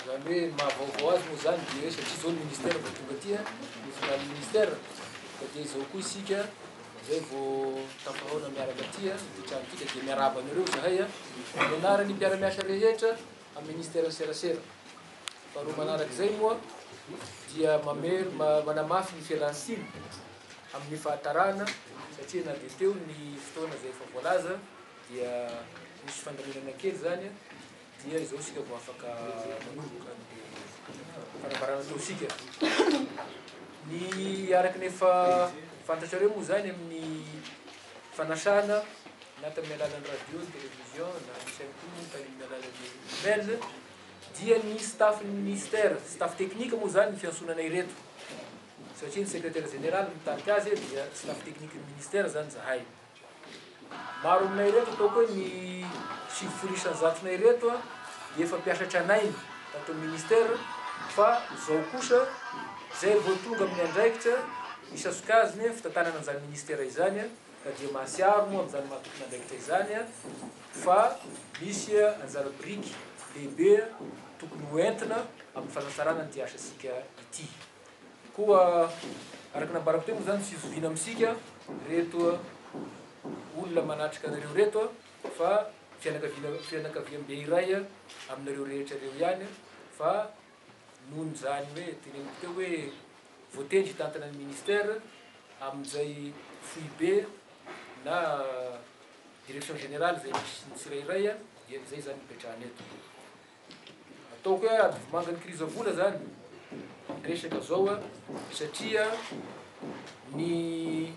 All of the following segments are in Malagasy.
Izany hoe ny maha vaovao azy moa izany dia hoe satria izao ny ministera vao tonga aty an, nofindrany ny ministera, ka dia izao koa isika izay vao tafahaona miaraka aty an, ity trano ity, ka dia miarahaba anareo izahay an, amin'ny anaran'ny mpiara-miasa rehetra amin'ny ministeran'ny serasera. Faharoa manaraka izay moa dia mamery, ma- manamafy ny fialan'ny siny amin'ny fahatarana satria na dia teo ny fotoana izay efa voalaza dia nisy fandaminana kely izany an, Dia izao isika vao afaka manomboka ny fanambarana ataontsika. Ny araka ny efa fantatrareo moa izany amin'ny fanasana na tamin'ny alalan'ny radio, ny télévision na ny chaîne koa moa tamin'ny alalan'ny email dia ny staff-n'ny ministère, staff technique moa izany ny fiantsonana ireto satria ny secrétaire général mitarika azy dia staff technique-n'ny ministère izany izahay. Maro aminay ireto ataoko hoe ny sivy folo isan-jatony ireto dia efa mpiasa tranainy tato amin'ny ministera fa izao kosa izay vao tonga amin'ny andraikitra isa sokajiny fitantanana an'izany ministera izany ka dia mahatsiaro moa amin'izany maha tompon'andraikitra izany fa misy anjara biriky lehibe tokony ho entina amin'ny fanatsarana an'ity asasika ity. Koa araka ny nambarako teo moa izany tsy zoviana amintsika ireto olona manatrika anareo ireto fa fianakaviana fianakaviambe iray aminareo rehetra ireo ihany fa noho izany hoe teneniko teo hoe voatendry hitantana ny ministère amin'izay foibe na direction générale izay misy ny tsirairay dia izay izany nipetrahana eto. Ataoko hoe ady vomanga kirizavola zany ny resaka zao a, satria ny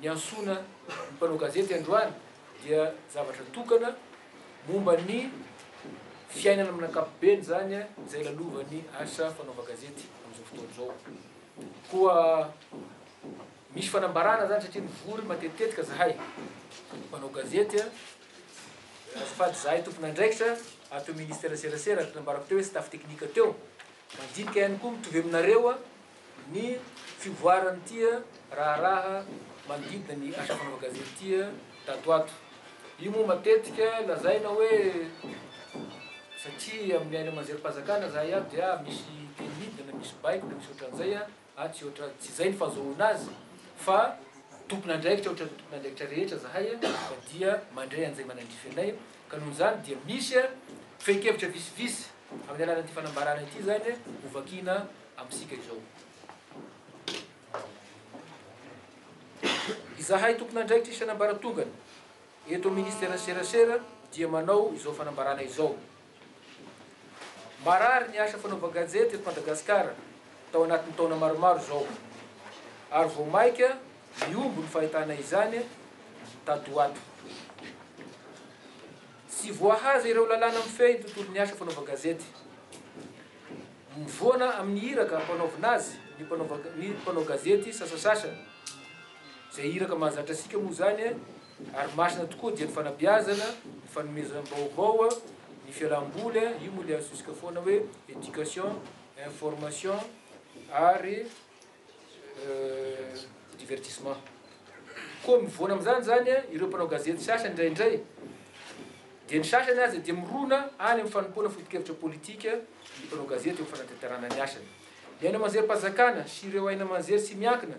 niantsoana ny mpanao gazety androany dia zavatra tokana momba ny fiainana amin'ny ankapobeny zany izay lalovan'ny asa fanaovan-gazety amin'izao fotoana izao. Koa misy fanambarana zany satria mivory matetitetika zahay mpanao gazety a, Azafady zahay tompon'andraikitra ato amin'ny Ministera Serasera, araka ny nambarako teo hoe staff teknika teo, mandinika ihany koa mitovy aminareo ny fivoaran'ity raharaha manodidina ny asa fanaovan-gazety ity tato ato. Io moa matetika lazaina hoe satria amin'ny haino aman-jerim-panjakana zahay ato dia misy teny midina na misy baiko na misy ohatran'izay, Ahy tsy ohatra, tsy izay ny fahazoana azy fa tompon'andraikitra ohatra ny tompon'andraikitra rehetra zahay ka dia mandray an'izay manandrify anay ka noho izany dia misy fehin-kevitra visivisy amin'ny alalan'ity fanambarana ity izany ho vakiana amintsika izao. Izahay tompon'andraikitra isan'ambaratongany eto amin'ny Ministeran'ny Serasera dia manao izao fanambarana izao. Marary ny asa fanaovan-gazety eto Madagasikara tao anatin'ny taona maromaro izao, ary vao maika mihombo ny fahitana izany tato ho ato. Tsy voahaja ireo lalàna mifehy ny tontolon'ny asa fanaovan-gazety. Mivoana amin'ny iraka ampanaovina azy ny mpanao gazety sasasasa, izay iraka mahazatra antsika moa izany. Ary masina tokoa dia ny fanabeazana, ny fanomezam-baovao, ny fialam-boly, io moa ilay antsointsika foana hoe éducation, information ary divertissement. Koa mivoana amin'izany izany ireo mpanao gazety sasany indraindray, dia ny sasany aza dia mirona any amin'ny fanompoana foto-kevitra politika ny mpanao gazety eo amin'ny fanatanterahana ny asany. Ny haino aman-jerim-panjakana sy ireo haino aman-jery tsy miankina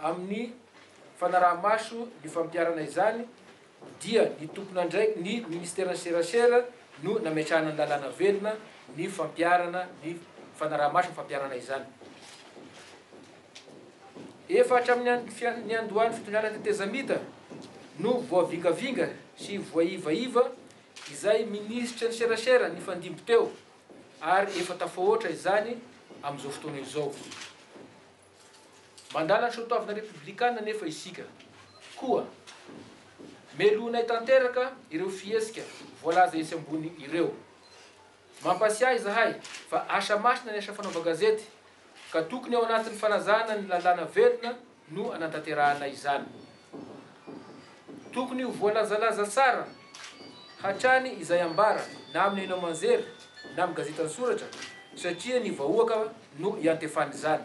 Amin'ny fanaraha-maso ny fampiharana izany dia ny tompon'andraik ny Ministeran'ny Serasera no nametrahana ny lalàna velona ny fampiharana ny fanaraha-maso ny fampiharana izany. Efa hatramin'ny fian niandohan'ny fitondrana tetezamita no voavingavinga sy voaivaiva izay Minisitry ny Serasera nifandimby teo ary efa tafahoatra izany amin'izao fotoana izao. Mandala ny soatoavina repoblikana anefa isika, koa melohinay tanteraka ireo fihetsika voalaza etsy ambony ireo. Mampasiahy izahay fa asa masina ny asa fanaovan-gazety, ka tokony ao anatin'ny fanajana ny lalàna velona no anantanterahana izany. Tokony ho voalazalaza tsara hatrany izay ambara na amin'ny haino aman-jery na amin'ny gazety an-tsoratra satria ny vahoaka no iantefan'izany.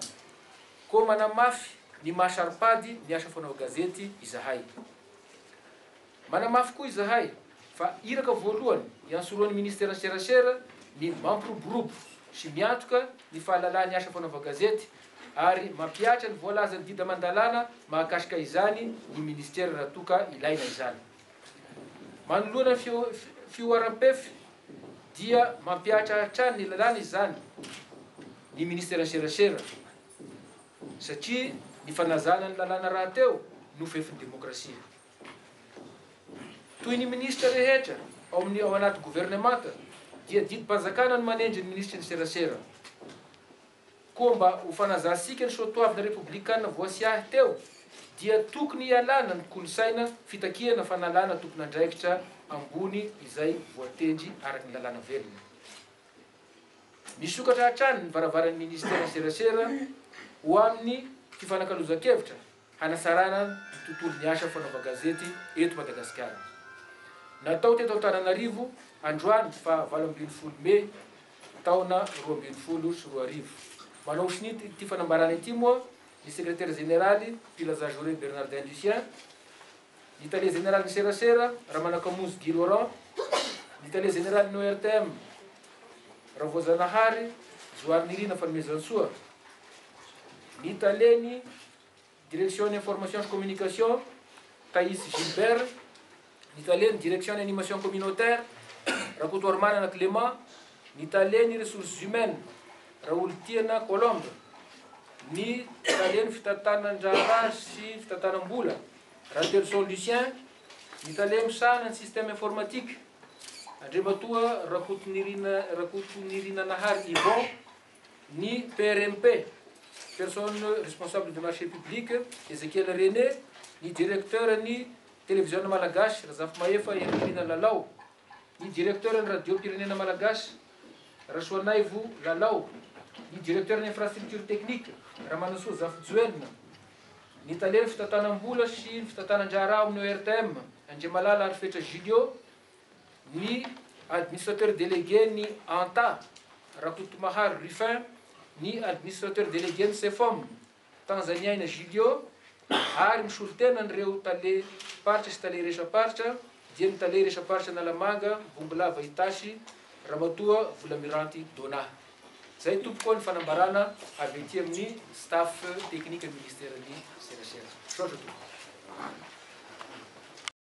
Koa manamafy ny maha saro-pady ny asa fanao gazety izahay. Manamafy koa izahay fa iraka voalohany iantsoroan'ny Ministeran'ny Serasera ny mampiroborobo sy miantoka ny fahalalahan'ny asa fanaova gazety ary mampihatra ny voalazan'ny dida aman-dalàna mahakasika izany ny minisitera raha toa ka ilaina izany. Manoloana ny fihoaram-pef dia mampihatra hatrany ny lalàna izany ny minisiteran'ny serasera satria ny fanazana ny lalàna rahateo no fefin'ny demokrasia. Toy ny minisitra rehetra ao amin'ny ao anaty governemanta dia didim-panjakana no manendry ny minisitry ny serasera. Koa mba ho fanazahantsika ny soatoavina repoblikana voasiahy teo dia tokony hialana ny kolosaina fitakiana fanalana tompon'andraikitra ambony izay voatendry araka ny lalàna velona. Misokatra hatrany ny varavaran'ny minisiteran'ny serasera ho amin'ny fifanakalozan-kevitra hanasarana ny tontolon'ny asa fanaovan-gazety eto Madagasikara. Natao teto Antananarivo androany faha valo ambin'ny folo mey taona roa ambin'ny folo sy roa arivo. Manao sonia ity fanambarana ity moa ny Sekretera Jeneraly Mpilazajoure Bernardin Lucien, ny tale jeneralin'ny serasera, Ramanakamonjy Guy Laurent, ny tale jeneralin'ny ORTM, Ravoajanahary Joharinirina Fanomezantsoa, ny talen'ny Direction Information sy Communication, Tahisy Gilbert, ny talen'ny Direction Animation Communautaire, Rakotoarimanana Clément, ny talen'ny Ressources Humaines, Raolitiana Colombe, ny Talen' ny Fitantanan-draharaha sy Fitantanam-bola, Ratelison Lucien, ny Tale misahana ny Système Informatique, Andriamatoa Rakotonirina Rakotonirina Nahary Yvon, ny PRMP, Personne Responsable des Marchés Publics, Ezekiel René, ny Direkteuran'ny Televiziona Malagasy, Razafimahefa Henrichina Lalao. ny Directeur-n'ny Radiom-pirenena Malagasy, Rasoanaivo Lalao, ny Directeur-n'ny Infrastructure Technique, Ramanosoa Zafijoelina, ny Talen'ny Fitantanam-bola sy ny Fitantanan-draharaha ao amin'ny ORTM, Andriamalala Arifetra Julio, ny Administrateur Délégué-n'ny Anta, Rakotomaharo Ruffin, ny Administrateur Délégué-n'ny Cefom, Tanzaniaina Julio ary misolo tena an'ireo tale paritra sy tale iresa-paritra dia ny tale iresa-paritra Analamanga Bongolava Itasy Ramatoa Volamiranty Dona. Izay tompoko ny fanambarana avy aty amin'ny staff teknikan'ny ministeran'ny serasera. Misaotra tompoko.